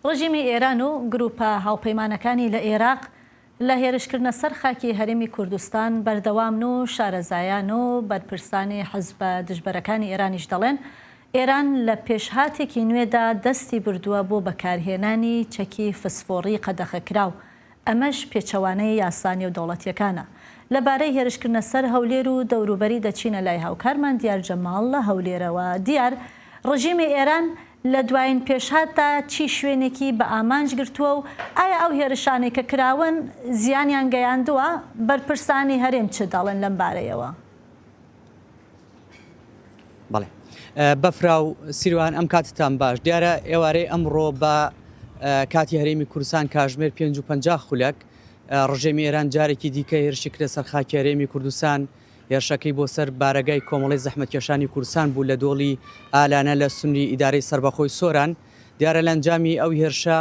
ڕژیمی ئێران و گرووپە هاوپەیمانەکانی لە ئێراق لە هێرشکردنە سەر خاکی هەرێمی کوردستان بەردەوامن و شارەزایان و بەرپرسانی حزبە دژبەرەکانی ئێرانیش دەڵێن، ئێران لە پێشهاتێکی نوێدا دەستی بردووە بۆ بەکارهێنانی چەکی فسفۆڕی قەدەخەکراو ئەمەش پێچەوانەی یاسا نێودەوڵەتییەکانە. لەبارەی هێرشکردنە سەر هەولێر و دەوروبەری دەچینە لای هاوکارمان دیار جەماڵ لە هەولێرەوە، دیار، ڕژیمی ئێران لە دوایین پێشهاتدا چی شوێنێکی بە ئامانج گرتووە و ئایا ئەو هێرشانەی کە کراون زیانیان گەیاندووە؟ بەرپرسانی هەرێم چ دەڵێن لەم بارەیەوە؟ بەڵێ بەفراو سیروان ئەم کاتتان باش دیارە ئێوارەی ئەمڕۆ بە کاتی هەرێمی کوردستان کاژمێر 550 خولەک ڕژێمی ئێران جارێکی دیکە هێرشی کرە سەر خاکی هەرێمی کوردستان هێرشەکەی بۆ سەر بارەگای کۆمەڵی زەحمەتکێشانی کوردستان بوو لە دۆڵی ئالانە لە سنووری ئیدارەی سربەخۆی سۆران دیارە لە ئەنجامی ئەو هێرشە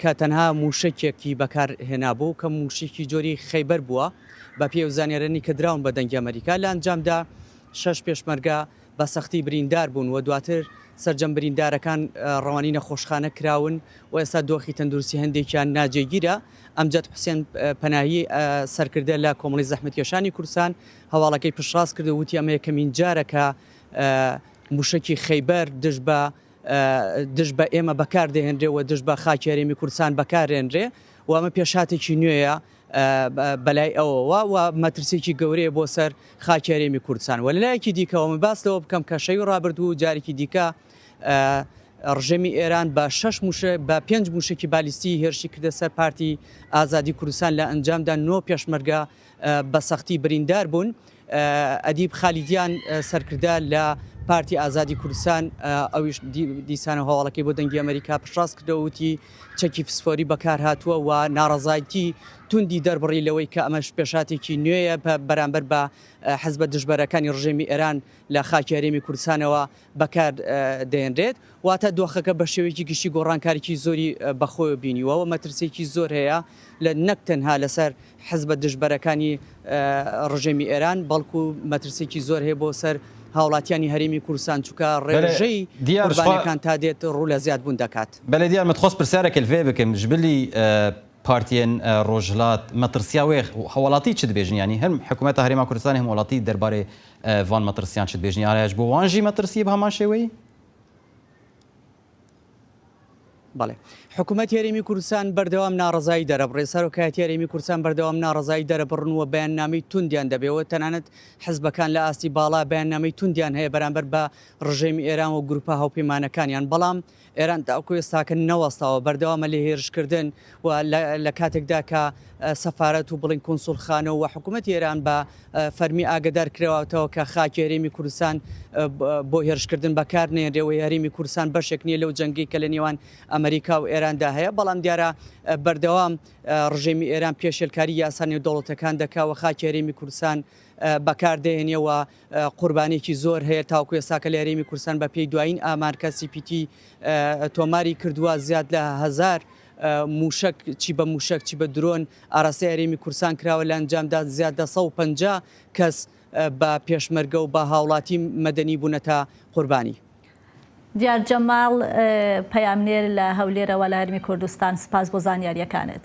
کە تەنها مووشەکێکی بەکار هێنابوو کە مووشیکی جۆری خەیبەر بووە بە پێی ئەو زانیارانی کە دراون بە دەنگی ئەمەریکا لە ئەنجامدا شەش پێشمەرگە بە سەختی بریندار بوون و دواتر سەرجەم بریندارەکان ڕەوانی نەخۆشخانە کراون و ئێستا دۆخی تەندروستی هەندێکیان ناجێگیرە ئەمجد حوسێن پەناهی سەرکردە لە کۆمەڵی زەحمەتکێشانی کوردستان هەواڵەکەی پشتڕاست کرد و وتی ئەمە یەکەمین جارە کە موشکی خیبر دژ بە دژ بە ئێمە بەکار دەهێنرێ و دژ بە خاکی هەرێمی کوردستان بەکارێنرێ و ئەمە پێشاتێکی نوێیە بەلای ئەوەوە و مەترسێکی گەورەیە بۆ سەر خاکی هەرێمی کوردستان و لەلایەکی دیکەەوە من باس لەوە بکەم کە شەوی ڕابردوو و جارێکی دیکە ڕژێمی ئێران بە شش بە پێنج موشکی بالیستی هێرشی کردە سەر پارتی ئازادی کوردستان لە ئەنجامدا نۆ پێشمەرگە بە سەختی بریندار بوون. ئەدیب خالیدیان سەرکردە لە پارتی ئازادی کوردستان ئەویش دیسانە هەواڵەکەی بۆ دەنگی ئەمریکا پشڕاست کردەوە وتی چەکی فسفۆری بەکار هاتووە و ناڕەزایتی توندی دەربڕی لەوەی کە ئەمەش پێشاتێکی نوێیە بە بەرامبەر بە حەزبە دژبەرەکانی ڕژێمی ئێران لە خاکی هەرێمی کوردستانەوە بەکار دەهێنرێت، واتە دۆخەکە بە شێوەیەکی گشتی گۆڕانکاریی زۆری بە خۆیەوە بینیوە و مەترسییەکی زۆر هەیە لە نەک تەنها لەسەر حزبە دژبەرەکانی ڕژێمی ئێران بەڵکو مەترسییەکی زۆر هەیە بۆ سەر هاوڵاتیانی هەرێمی کوردستان چونکە ڕێژەی قوربانیەکان تا دێت ڕوو لە زیادبوون دەکات. بەلێ دیار من خواست پرسیارێک لڤێ بکەم ژبلی پارتیەن ڕۆژهلات مەترسیا وێخ هەواڵاتی چ دبێژن یانی هەم حکومەتە هەرێما کوردستانی هەم وڵاتی دەربارەی ڤان مەترسیان چت بێژنی ئارایش بۆ وان ژی مەترسیە بەهەمان شێوەی؟ بەڵێ حکومەت هەرێمی کوردستان بەردەوام ناڕەزایی دەرەبڕێ سەرۆکایەتی هەرێمی کوردستان بەردەوام ناڕەزایی دەرەبڕن و بەیاننامەی توندیان دەبێەوە تەنانەت حزبەکان لە ئاستی باڵا بەیاننامەی توندیان هەیە بەرامبەر بە ڕژێمی ئێران و گروپە هاوپەیمانەکانیان بەڵام ئێران تاوکو ئێستاکە نەوەستاوە بەردەوامە لە هێرشکردن و لە کاتێکدا کە سەفارەت و بڵین کونسولخانە و حکوومەت ئێران بە فەرمی ئاگدار کرەوەتەوە کە خاکی هەرێمی کوردستان بۆ هێرشکردن بەکار نێنرێەوەی هەرێمی کوردستان بەشێک نییە لەو جەنگی کە لە نێوان ئەمریکا و ئێراندا هەیە بەڵام دیارە بەردەوام ڕژێمی ئێران پێشێلکاری یاسانی و دەوڵەتەکان دەکاوە خاکی هەرێمی کوردستان بەکاردێنەوە قوربانیەکی زۆر هەیە تاوکو ئێستا کە لە هەرێمی کوردستان بە پێی دوایین ئامار کە سی پی تی تۆماری کردووە زیاد لە هەزار موشک چی بە موشک چی بە درۆن ئاراستەی هەرێمی کورسان کراوە لە ئەنجامدا زیاد لە 150 کەس بە پێشمەرگە و بە هاوڵاتی مەدەنی بوونەتە قوربانی. دیار جەماڵ، پەیامنێر لە هەولێرەوە لە هەرمی کوردستان، سپاس بۆ زانیارییەکانت.